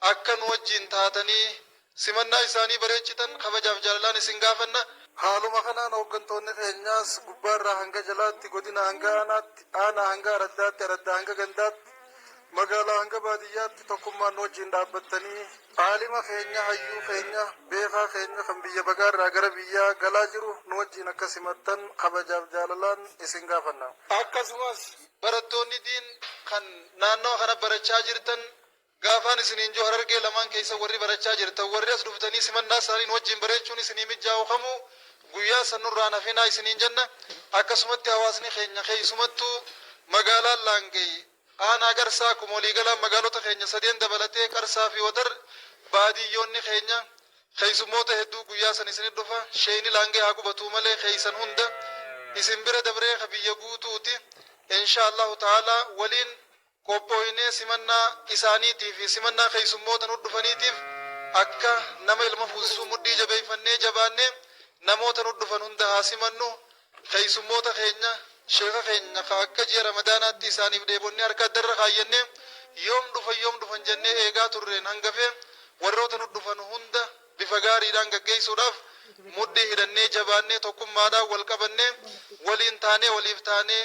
Akka nu wajjin taatanii simannaa isaanii bareechitan kabajaaf jaalalaan isin gaafanna. Haaluma kanaan hooggantoonni keenyaas gubbaarraa hanga jalaatti, godinaa hanga aanaatti, aanaa hanga araddaatti, araddaa hanga gandaatti, magaalaa hanga baadiyyaatti tokkummaan nu wajjin dhaabbattanii, aalima keenya, hayyuu keenya, beekaa keenya kan biyya bagaarraa gara biyyaa galaa jiru nu wajjin akka simattan kabajaaf jaalalaan isin gaafanna. Akkasumas, barattoonni Diin kan naannawa kana barachaa jirtan Gaafaan isiniin jiru Harargee lamaan keessa warri barachaa jirtan warri as dhuftanii simannaa isaanii nu wajjin bareechuun isinii mijjaa'u kamuu guyyaa san nurraa hin hafinaa isiniin jenna. Akkasumatti hawaasni keenya keessumattuu magaalaan Laangay aanaa Qarsaa akkuma walii galaan magaalota keenya sadeen dabalatee Qarsaa fi Wadar baadiyyoonni keenya keessummoota hedduu guyyaa san isinit dhufa. Sheeyni Laangay haa gubatuu malee keessan hunda isin bira dabree ka biyya guutuuti. Inshaa Allaahu ta'aalaa waliin qophooynee simannaa isaaniitii fi simannaa keessummoota nu dhufaniitiif akka nama ilma fuusisuu muddii jabeeyfannee jabaannee namoota nu dhufan hunda haa simannu keessummoota keenya sheeka keenya ka akka ji'a ramadaanaatti isaaniif dheebonnee harka addarra kaayyannee yoom dhufan yoom dhufan jennee eegaa turreen hangafee warroota nu dhufan hunda bifa gaariidhaan gaggeeysuudhaaf muddii hidhannee jabaannee tokkummaadhaan wal qabannee waliin taanee waliif taanee